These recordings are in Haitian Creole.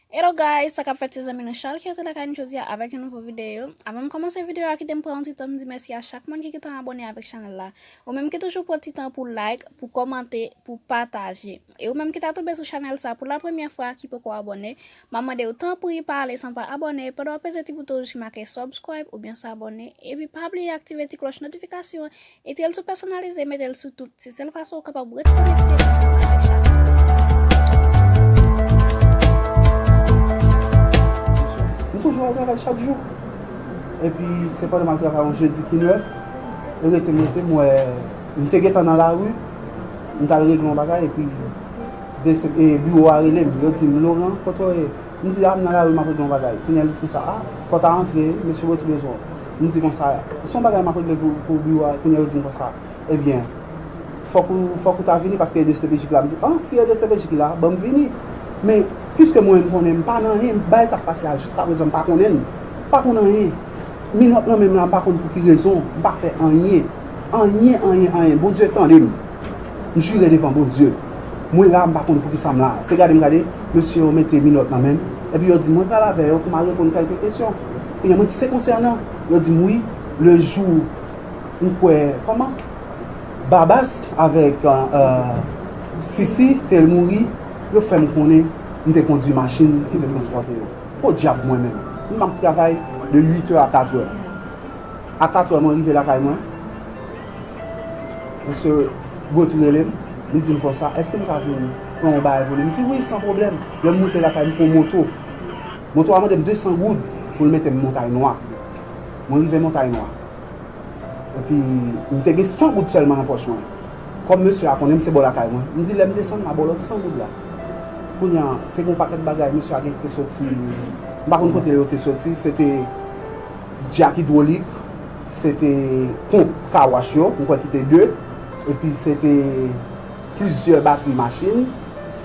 Hello guys, sa kap fèt se zanmi nou Charles ki antre lakay nou jodia avèk yon nouvo video. Avan m kòmanse video a kite m pran yon ti tan pou m di mèsi a chak moun ki gentan abone avèk chanèl la. Ou menm ki toujou pran ti tan pou like, pou kòmante, pou pataje. E ou menm ki ta tonbe sou chanèl sa pou la premyè fwa ki poko abone, map mande ou tanpri pa ale san pa abone pandan wap peze ti bouton wouj ki make subscribe oubyen s'abonner epi pa bliye aktive ti klòch notifikasyon Etel sou pèsonalize metel sou tout se sèl fason ou kapab ret konekte ansanm avèk chanèl la. M toujou al travay chak jou epi se pandan map travay yon jedi ki 9 e rete m rete m wè m te gentan nan lari m tal regle yon bagay epi e biwo a rele m yo di m Laurent kote w ye m di a m nan lari map regle yon bagay kounya li di konsa a pòt a antre mesye bò ki bezwen w. M di konsa, se yon bagay m ap regle pou biwo a, kounye a yo di m konsa, ebyen, fòk ou, fòk ou ta vini paske edcpj ki la. M di, an, si edcpj ki la, ban m vini. Men, piske mwen m konnen m pa nan anyen, bagay sa k pase a jiskaprezan m pa konnen l, m pa konn anyen. Minòt nan men m la m pa konn pou ki rezon, m pa fè anyen. Anyen, anyen, anyen. Bondye tande m. M jire devan Bondye. Mwen la m pa konn poukisa m la a. Se gade m gade, mesye yo mete minòt nan men m, epi yo di m mwen pral avè yo pou m al reponn kèlke kesyon. Kounya mwen di se konsènan yo dim wi le jou m kwè kòman Babas avèk Sisi te mouri yo fèm konnen m te kondwi machin ki te transpòte yo. Podyab mwen menm m ap travay de 8 è a 4 è. A 4 è mwen rive lakay mwen Mesye Goat rele m li dim konsa èske m ka vin pran yon bagay pou li m di wi san pwoblèm lè m moute lakay m pran moto. Moto a mande m 200 goud pou l mete m Montay Nwa. Mwen rive Montay Nwa. Epi, m te gen 100 goud sèlman nan pòch mwen. Kòm mesye a konnen m se bò lakay mwen, m di lè m desann m a ba w lòt 100 goud la. Kounye a, te gen yon pakèt bagay mesye a gen ki te soti, m pa konn kote yo te soti, se te dyak idwolik, se te ponp kawòch yo, m kwè ki te 2, epi se te. plizyè batri machin,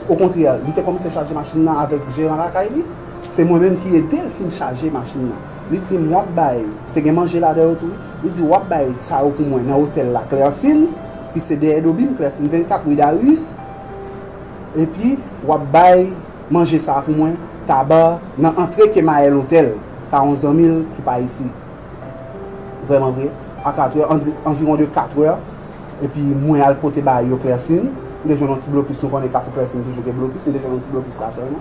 okontrè li te kòmanse chaje machin nan avèk jeran lakay li, se mwen menm ki ede l fin chaje machin nan. Li di m w ap bay, te gen manje ladan yo tou wi, li di w ap bay sa yo pou mwen nan otèl la Klèsin, ki se dèyè Dobim, Klèsin 24, ri Darius, epi w ap bay manje sa a pou mwen Taber nan antre Kemayèl otèl pa yon zanmi l ki pa isi. Vrèman vre, a katrè, an di anviwon de katrè, epi mwen al pote ba yo klèsin, m te jwenn yon ti blokis, nou konnen Kafou Klèsin toujou gen blokis, m te jwenn yon ti blokis la sèlman.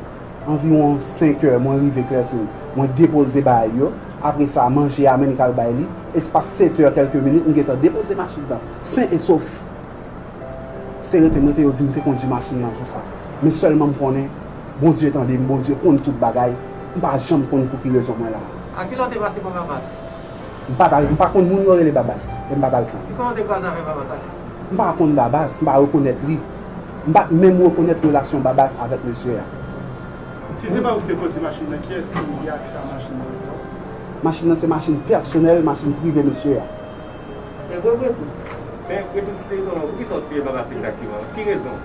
Anviwon senkè, mwen rive klèsin, mwen depoze ba yo, apre sa, manje a menm k al bay li, espas setè kèlke minit, m gentan depoze machin nan, sen e sof. Se rete m rete yo di m te kondui machin nan jou sa. Men sèlman m konnen. Bondye tande m Bondye konn tout bagay m pa janm konn pouki rezon mwen la. A kilè w te pase pran babas? M pa ta, m pa konn moun yo rele babas e m pa ta l pran. Ki kote w te kwaze avèk babas atis? M pa konn babas, m pa rekonèt li. M pa t menm rekonèt relasyon babas avèk mesye a. Si se pa ou ki te kondi machin nan kiyès ki gen aksè a machin nan ankò? Machin nan se machin pèsonèl, machin prive mesye a. Ebyen ou gen plis? Men, gen plis ki te reponn ou. Poukisa w tire babas egzakteman? Pou ki rezon?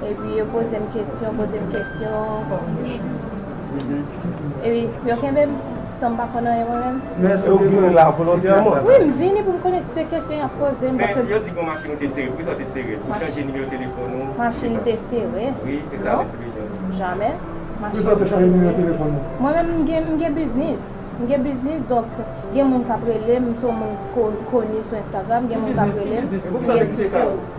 Epi yo poze m kesyon, poze m kesyon, bon. Epi yo kenbe m san m pa konn anyen mwen menm. Men èske w te vini la volontèman? Wi, m vini pou m konnen si se kesyon y ap poze m. Men yo di gen yon machin ou te sere. Poukisa w te sere l? Pou chanje nimewo telefòn ou? Machin m te sere? Wi, se sa yo te vle jwenn. Non, jamè. Poukisa w te chanje nimewo telefòn ou? Mwen menm m gen biznis. M gen biznis donk gen moun k ap rele m. M se yon moun koni sou Instagram. Gen moun k ap rele m. Ki biznis ou gen? Poukisa w te kite kay ou?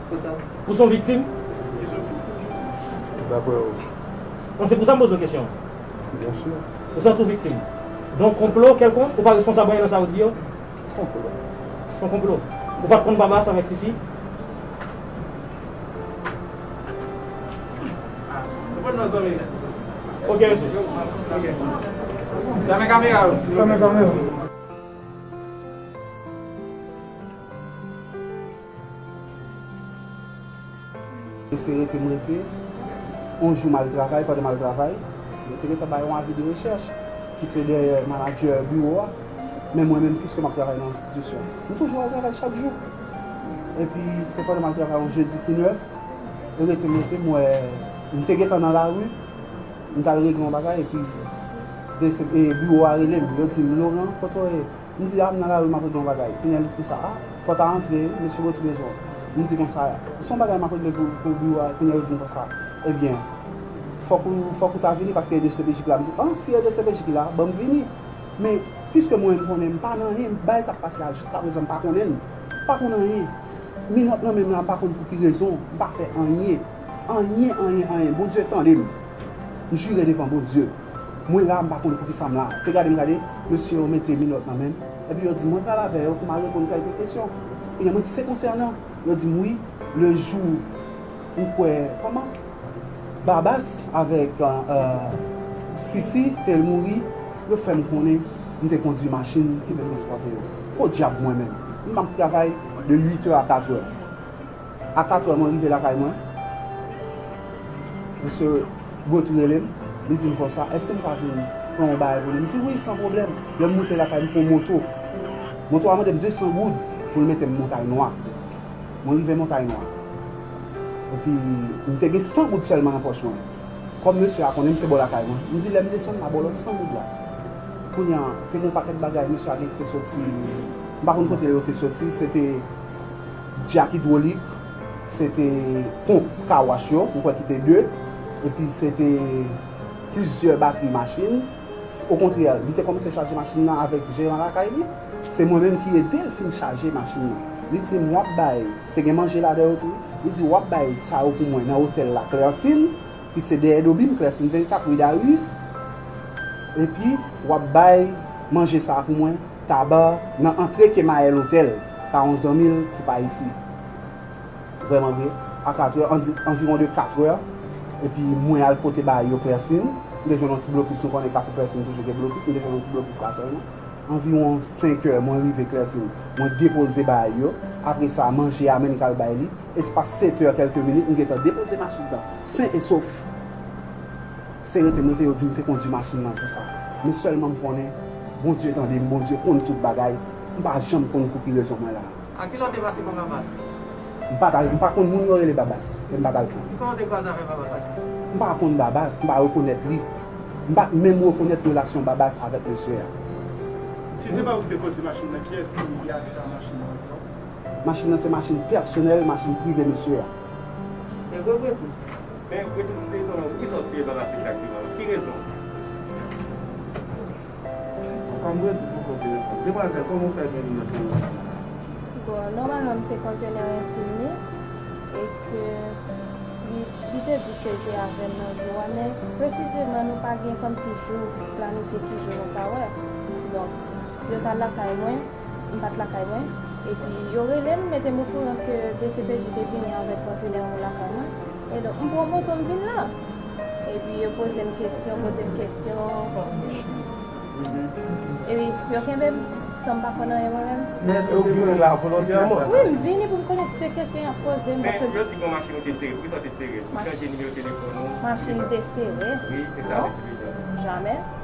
Ou son viktim? Ki son viktim? Dapre ou? Bon se pou sa m poze w kesyon an. Byen si. Ou santi w viktim? Don konplo kèlkonk? Ou pa responsab anyen nan sa yo di yo? Ki konplo? Son konplo. Ou pa t konn Babas avèk Sisi? Nou pa t nan zanmi. Ok mesye. Ok. Fèmen kamera yo. Fèmen kamera. Mesye rete m rete, yon jou m al travay, pandan m al travay, yo te gentan bay yon avi de rechèch ki se dèyè manadjè biwo a, men mwen menm piske m ap travay nan enstitisyon, m toujou al travay chak jou. Epi se pandan m al travay yon jedi ki 9, rete m rete m wè, m te gentan nan lari, m t al regle yon bagay epi biwo a rele m, yo di m Laurent, kote w ye? M di a m nan lari m ap regle yon bagay kounya li di konsa a fò w ta antre wi mesye bò ki bezwen w m di konsa a se yon bagay m ap regle pou biwo a kounya yo di m konsa ebyen fòk ou fòk ou ta vini paske edcpj ki la m di an si edcpj ki la ban m vini men piske mwen m konnen m pa nan anyen bagay sa k pase a jiska prezan m pa konnen l m pa konn anyen minòt nan men m la m pa konn pou ki rezon m pa fè anyen anyen anyen anyen Bondye tande m m jire devan Bondye. Mwen la m pa konn poukisa m la. Se gade m gade, mesye yo mete minòt nan men m, epi yo di m mwen pral avè yo pou m al reponn kèlke kesyon. Kounye a mwen di se konsènan? Yo di m wi, le jou m kwè kòman? Babas avèk Sisi te l mouri, yo fè m konnen m te kondui machin ki te transpòte yo. Podyab mwen menm, m ap travay de uitè a katrè. A 4 è mwen rive lakay mwen. Mesye Gautry rele m, li di m konsa, èske m ka vin pran yon bagay pou li? M di wi, san pwoblèm. Lè m moute lakay, m pran yon moto. Moto a mande m 200 goud pou l mete m Montay Nwa. Mwen rive Montay Nwa. Epi, m te gen 100 goud sèlman nan pòch mwen. Kòm mesye a konnen m se bò lakay mwen, m di lè m desann m a ba w lòt 100 goud la. Kounye a, te gen yon pakèt bagay mesye a gen ki te soti, m pa konn kote yo te soti, se te. Dyak idwolik, se te ponp kawash yo, m kwè ki te de, epi se te plizyè batri machin. Okontrè, li te kòmanse chaje machin nan avèk jeran lakay li. Se mwen menm ki ede l fin chaje machin nan. Li di m, w ap bay, te gen manje ladan yo tou wi, li di, w ap bay sa yo pou mwen nan otèl la Klèsin, ki se dèyè Dobim, Klèsin 24, ri Dariis, epi w ap bay manje sa a pou mwen Tabar, nan antre Kemayèl Otèl. ka yon zanmi l ki pa isit. Vrèman vre, a katrè, an di anviwon de katrè, epi mwen al pote ba yo klèsin, m te jwenn yon ti blokis, nou konnen kafou klèsin toujou gen blokis, m te jwenn yon ti blokis la sèlman. Anviwon senkè, mwen rive klèsin, mwen depoze ba yo, apre sa, manje a menm k al bay li, espas setè kèlke minit, m gentan depoze machin nan sen e sof. Se rete mwen te yo dim te kondwi machin nan jou sa men sèlman m konnen Bondye tande m Bondye konn tout bagay m pa janm konn koupi rezon mwen la. A kilè w te pase pran Babas? M pat al, m pa konn moun yo rele Babas e m pat al pran. Kitan w te kwaze avè Babas ak Sisi? M pa konn Babas, m pa rekonèt li. M pat menm rekonèt relasyon Babas avèk mesye a. Si se pa ou ki te kondwi machin nan kiyès ki gen aksè a machin nan ankò? Machin nan se machin pèsonèl, machin prive mesye a. Te gwo bri tou? Men rete sou feyton an wi zanmi se lala finn lagem an wi ki rezon. Apa mwen ki poko vle reponn. Demwazel koman ou fè genyen pou ou la. Bon nòmalman m se kontenè entim li e ke li te di ke l te avèm nan jou a men presizeman nou pa gen kòmsi jou planifye ki jou nou ka wè donk yo t al lakay mwen. M pat lakay mwen, epi yo rele m mete m okouran ke dcpj te vini avèk kontenè yo lakay mwen, e donk m pran moto m vin la. Epi yo poze m kesyon, poze m kesyon, epi yo kenbe m san m pa konn anyen mwen menm. Men èske ou te vini la volontèman? Wi, m vini pou m konnen se kesyon y ap poze m, paske. Men yo di gen yon machin ou te sere, poukisa ou te sere l? Ou chanje nimewo telefòn ou? Machin m te sere? Wi, se sa yo eksplike. Jamè.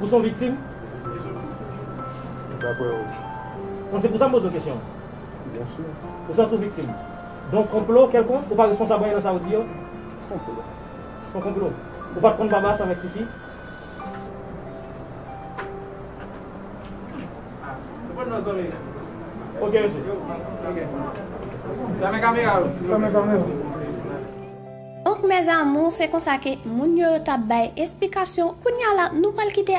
Ou son viktim? Dapre ou? Bon, se pou sa m poze w kesyon an. Byen si. Ou santi w viktim don konplo kèlkonk? Ou pa responsab anyen nan sa ou di yo? Ki konplo? Son konplo. Ou pa t konn Babas avèk Sisi? Reponn non zanmi m. Ok mesye. Fèmen kamera yo. Fèmen kamera. Ok mes amours se konsa ke moun yo yo tap bay esplikasyon kounya la nou pral kite